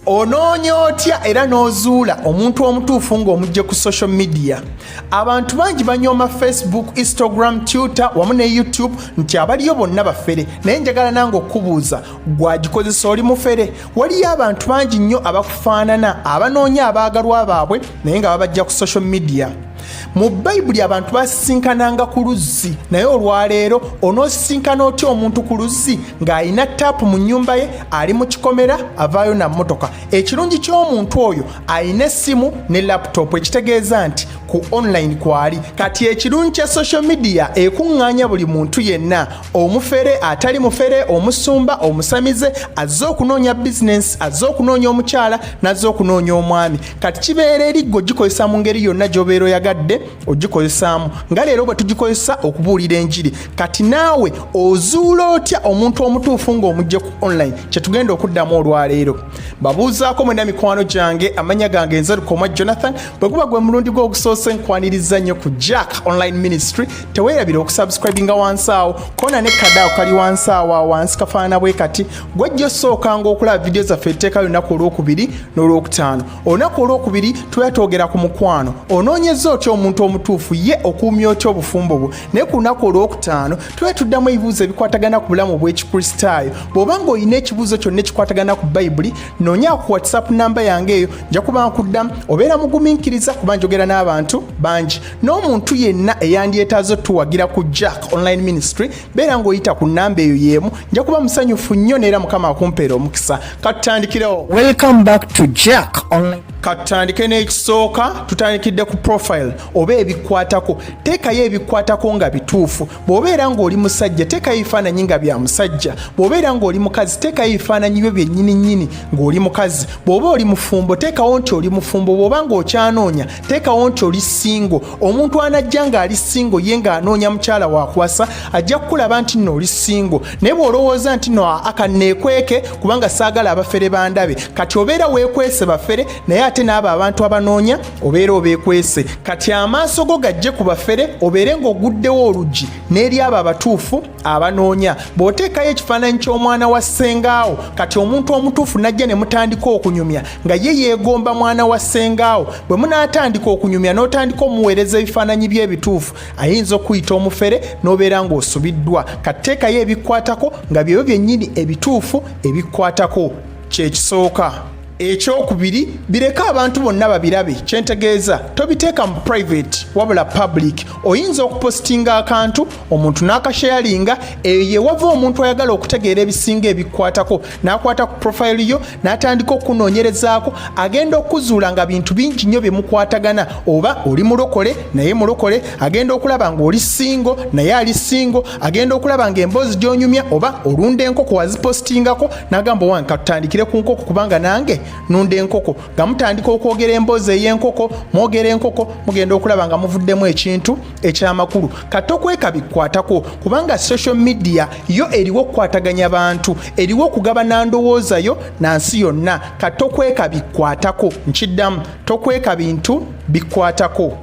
onoonya otya era n'ozuula omuntu omutuufu ng'omujje ku social media abantu bangi banyooma facebook instagram twitter wamu ne youtube nti abaliyo bonna bafere naye njagala nange okukubuuza gwagikozesa oli mufere waliyo abantu bangi nnyo abakufaanana abanoonya abaagalwa baabwe naye nga babajja ku social media mu bayibuli abantu basisinkananga ku luzzi naye olwaleero onoosisinkana otya omuntu ku luzzi ng'alina taapu mu nnyumba ye ali mu kikomera avaayo na mmotoka ekirungi ky'omuntu oyo alina essimu ne laputopu ekitegeeza nti ku online kwali kati ekirungi kya social media ekuŋŋaanya buli muntu yenna omufere atali mufere omusumba omusamize azze okunoonya bizinensi azze okunoonya omukyala n'azze okunoonya omwami kati kibeera eri gwe ogikozesa mu ngeri yonna gyobeera oyagadde ogikozesaamu nga leero bwe tugikozesa okubuulira enjiri kati naawe ozuula otya omuntu omutuufu ng'omugje ku online kyetugenda okuddamu olwaleero babuuzaako mwena mikwano gyange amanya gange nze lukoma jonathan bwe guba gwe mulundi gwe ogusoose nkwaniriza nnyo ku jack online ministry teweerabira okusubscribinga wansi awo kona ne kadaawo kali wansi awo awansi kafaanana bwe kati gwajja osookanga okulaba vidiyo zaffe etteeka lunaku olwokubiri n'olwokutaano olunaku olwokubiri tuba twogera ku mukwano onoonyeza otya omuntu omutuufu ye okuumya otya obufumbo bwo naye ku lunaku olwokutaano tuba tuddamu ebibuuzo ebikwatagana ku bulamu obw'ekikristaayo bw'oba nga olina ekibuuzo kyonna ekikwatagana ku bayibuli noonya ku whatsapp namba yange eyo nja kuba nkuddamu obeera mugumiikiriza kuba njogera n'abantu bangi n'omuntu yenna eyandyetaaza otuwagira ku jack online ministry beera ng'oyita ku nnamba eyo y'emu nja kuba musanyufu nnyo neera mukama akumpeera omukisa katutandikirewo welcome back to jack online katutandike n'ekisooka tutandikidde ku profile oba ebikwatako teekayo ebikwatako nga bituufu bw'obeera ng'oli musajja teekayo ebifaananyi nga bya musajja bw'obeera ng'oli mukazi teekayo ebifaananyi byo byennyini nnyini ng'oli mukazi bw'oba oli mufumbo teekawo nti oli mufumbo bw'oba ng'okyanoonya teekawo nti oli singo omuntu anajja ng'ali singo ye ng'anoonya mukyala wakwasa ajja kukulaba nti nno oli singo naye bw'olowooza nti no aka neekweke kubanga saagala abafere bandabe kati obeera weekwese bafere naye ate n'abo abantu abanoonya obeera obeekwese kati amaaso go gajje ku bafere obeere ng'oguddewo oluggi n'eri abo abatuufu abanoonya bw'oteekayo ekifaananyi ky'omwana wa ssengaawo kati omuntu omutuufu najja ne mutandika okunyumya nga ye yeegomba mwana wa ssengaawo bwe munaatandika okunyumya n'otandika omuweereza ebifaananyi by'ebituufu ayinza okuyita omufere n'obeera ng'osubiddwa katteekayo ebikwatako nga byebyo byennyini ebituufu ebikwatako kyekisooka ekyokubiri bireke abantu bonna babirabe kyentegeeza tobiteeka mu private wabula public oyinza okupositinga akantu omuntu n'akasheyalinga eyo yewava omuntu ayagala okutegeera ebisinga ebikwatako n'akwata ku profayilo yo n'atandika okukunoonyerezaako agenda okuzuula nga bintu bingi nnyo bye mukwatagana oba oli mulokole naye mulokole agenda okulaba ng'oli singo naye ali singo agenda okulaba nga emboozi gyonyumya oba olunda enkoko wazipositingako nagamba owange katutandikire ku nkoko kubanga nange nunda enkoko nga mutandika okwogera emboozi ey'enkoko mwogera enkoko mugenda okulaba nga muvuddemu ekintu ekyamakulu kati okweka bikwatako kubanga social media yo eriwo okukwataganya bantu eriwo okugaba nandowooza yo na nsi yonna kati okweka bikwatako nkiddamu tokweka bintu bikwatako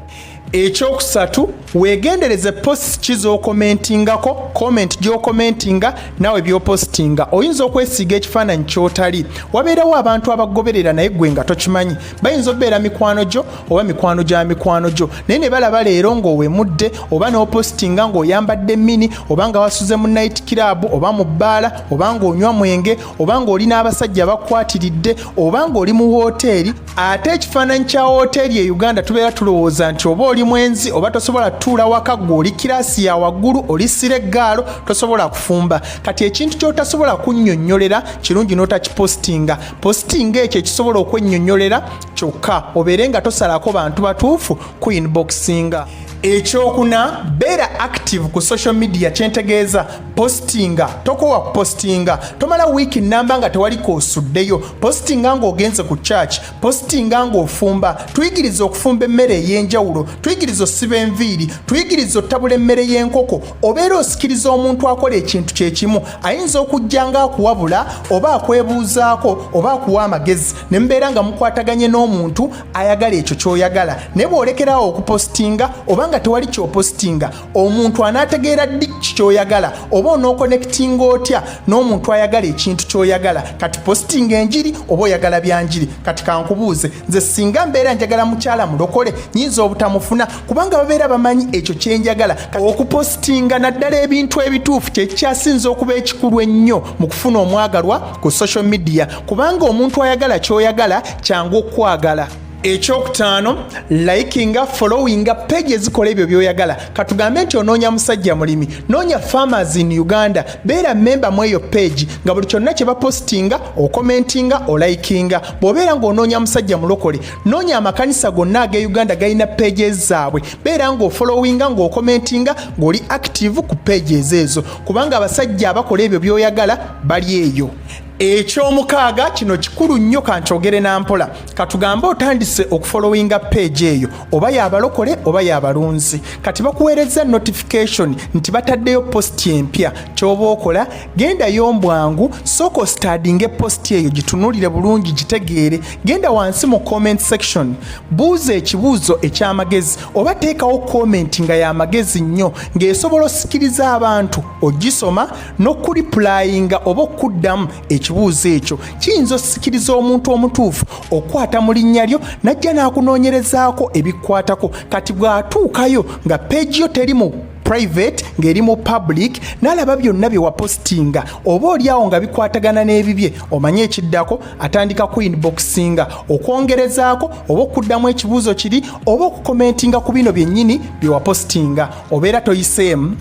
ekyokusatu wegendereze post ki zokomentingako comment gyokomentinga nawe byopositinga oyinza okwesiiga ekifaananyi kyotali wabeerawo abantu abagoberera naye gwe nga tokimanyi bayinza obeera mikwano gyo oba mikwano gya mikwano gyo naye ne balaba leero ng'owemudde oba n'opositinga ng'oyambadde mini oba nga wasuze mu nayiti kiraabu oba mu bbaala oba ng'onywa mwenge oba ng'oli n'abasajja bakwatiridde oba ng'oli mu wooteeri ate ekifaananyi kya wooteeri e uganda tubeera tulowooza nti oba oli mwenzi oba tosobola tutuula waka gwe oli kiraasi ya waggulu oli sira eggaalo tosobola kufumba kati ekintu kyotasobola kunnyonnyolera kirungi n'otakipositinga positinga ekyo ekisobola okwennyonnyolera kyokka obeere nga tosalako bantu batuufu ku inboxinga ekyokuna beera active ku social media kyentegeeza postinga tokowa postinga tomala wiiki namba nga tewali koosuddeyo postinga ng'ogenze ku church postinga ng'ofumba tuyigiriza okufumba emmere ey'enjawulo tuyigiriza osiba enviiri tuyigiriza otabula emmere y'enkoko obeera osikiriza omuntu akola ekintu kye kimu ayinza okujja nga akuwabula oba akwebuuzaako oba akuwa amagezi ne mubeera nga mukwataganye n'omuntu ayagala ekyo ky'oyagala naye bw'olekerawo okupostinga oba nga tewali ky'opostinga omuntu anaategeera ddi ki kyoyagala oba onookonekitinga otya n'omuntu ayagala ekintu kyoyagala kati positinga enjiri oba oyagala byanjiri kati kankubuuze nze singa mbeera njagala mukyala mulokole nyinza obutamufuna kubanga babeera bamanyi ekyo kyenjagala okupositinga naddala ebintu ebituufu kyekikyasinza okuba ekikulu ennyo mu kufuna omwagalwa ku social media kubanga omuntu ayagala kyoyagala kyangu okukwagala ekyokutaano likinga followinga page ezikola ebyo byoyagala katugambe nti onoonya musajja mulimi noonya farmers in uganda beera memba mu eyo page nga buli kyonna kye bapositinga okomentinga olikinga bw'obeera ng'onoonya musajja mulokole noonya amakanisa gonna ag'e uganda galina pages zaabwe beera ng'ofollowinga ng'okomentinga ng'oli active ku pages ezo kubanga abasajja abakola ebyo byoyagala bali eyo ekyomukaaga kino kikulu nnyo kankyogere na mpola katugambe otandise okufolowinga peegi eyo oba yabalokole oba yabalunzi kati bakuweereza notification nti bataddeyo positi empya kyoba okola gendayo mbwangu sooka ositadinga epositi eyo gitunulire bulungi gitegeere genda wansi mu comment section buuza ekibuuzo ekyamagezi oba teekawo komenti nga yamagezi nnyo ng'esobola osikiriza abantu ogisoma n'okulipulayinga oba okuddamu ekibuuzo ekyo kiyinza osikiriza omuntu omutuufu okukwata mu linnya lyo n'ajja n'akunoonyerezaako ebikwatako kati bw'atuukayo nga peegi yo teri mu private ng'eri mu public n'alaba byonna bye wapositinga oba olyawo nga bikwatagana n'ebibye omanye ekiddako atandika ku inboxinga okwongerezaako oba okuddamu ekibuuzo kiri oba okukomentinga ku bino byennyini bye wapositinga obeera toyiseemu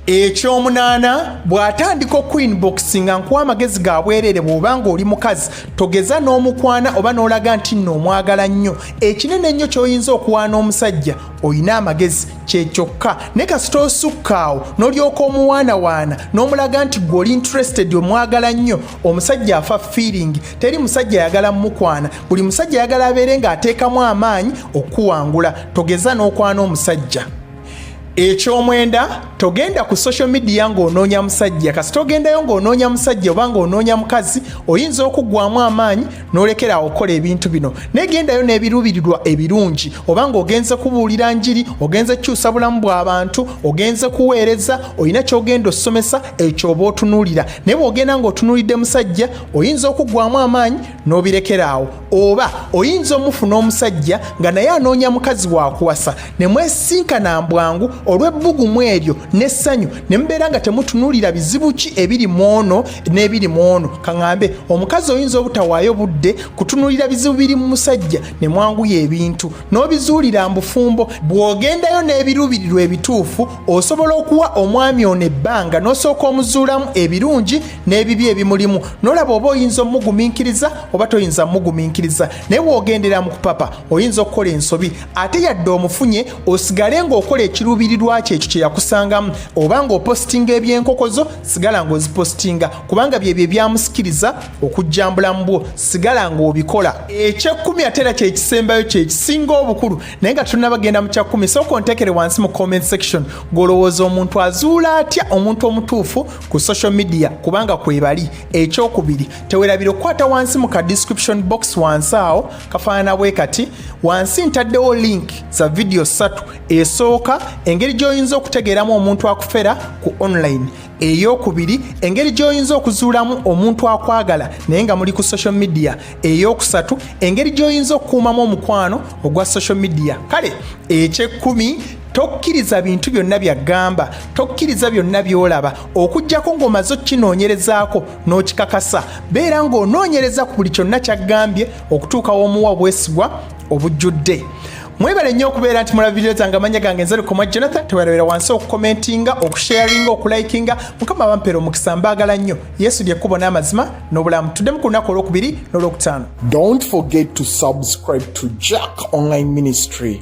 ekyomunaana bw'atandika okuinboxi nga nkuwa amagezi ga bwereere bw'oba ng'oli mukazi togeza n'omukwana oba n'olaga nti nno omwagala nnyo ekinene ennyo ky'oyinza okuwaana omusajja olina amagezi kyekyokka ne kasita osukkaawo n'olyoka omuwaanawaana n'omulaga nti gwe oli interested omwagala nnyo omusajja afa feeling teri musajja ayagala mumukwana buli musajja ayagala abeere ng'ateekamu amaanyi okukuwangula togeza n'okwana omusajja ekyomwenda togenda ku social media ng'onoonya musajja kasita ogendayo ng'onoonya musajja oba ng'onoonya mukazi oyinza okuggwamu amaanyi n'olekera awo okukola ebintu bino naye gendayo n'ebiruubirirwa ebirungi oba ng'ogenze kubuulira njiri ogenze kukyusa bulamu bw'abantu ogenze kuweereza olina ky'ogenda osomesa ekyoba otunuulira naye bw'ogenda ng'otunuulidde musajja oyinza okuggwamu amaanyi n'obirekera awo oba oyinza omufuna omusajja nga naye anoonya mukazi wakuwasa ne mwesinkana mbwangu olw'ebbugumu eryo n'essanyu ne mubeera nga temutunuulira bizibu ki ebiri mu ono n'ebiri mu ono kaŋambe omukazi oyinza obutawaayo budde kutunuulira bizibu biri mu musajja ne mwanguya ebintu n'obizuulira mbufumbo bw'ogendayo n'ebiruubirirwa ebituufu osobola okuwa omwami ono ebbanga n'osooka omuzuulamu ebirungi n'ebibi ebimulimu nolaba oba oyinza omugumiikiriza oba toyinza mugumiikiriza naye wogendera mu kupapa oyinza okukola ensobi ate yadde omufunye osigale ng'okola ekiruubirirwa kyo ekyo kye yakusangamu oba ng'opositinga ebyenkoko zo sigala ng'ozipositinga kubanga byebyo ebyamusikiriza okujjambula mu bwo sigala ng'obikola ekyekkumi ate era kyekisembayo kyekisinga obukulu naye nga tunabagenda mu kyakkumi sooka ontekere wansi mu comment section gw'olowooza omuntu azuula atya omuntu omutuufu ku social media kubanga kwebali ekyokubiri tewerabira okukwata wansi mu ka description box wansi awo kafaanana bwe kati wansi ntaddewo link za vidiyo ssatu esooka engeri gy'oyinza okutegeeramu omuntu akufera ku online eyokubiri engeri gy'oyinza okuzuulamu omuntu akwagala naye nga muli ku social media eyokusatu engeri gy'oyinza okukuumamu omukwano ogwa social media kale ekyekkumi tokkiriza bintu byonna byagamba tokkiriza byonna byolaba okujjako ng'omaze okukinoonyerezaako n'okikakasa beera ng'onoonyereza ku buli kyonna kyaggambye okutuuka w'omuwa obwesigwa obujjudde mwebale nnyo okubeera nti mulaba vidiyo zange amanya gange nze lukoma jonathan tewerabera wansi okukomentinga okusharinga okulikinga mukama bampera omukisa mbaagala nnyo yesu lyekkubo n'amazima n'obulamu tuddemu ku lunaku olwokubiri n'olwokutaano don't forget to subscribe to jack online ministry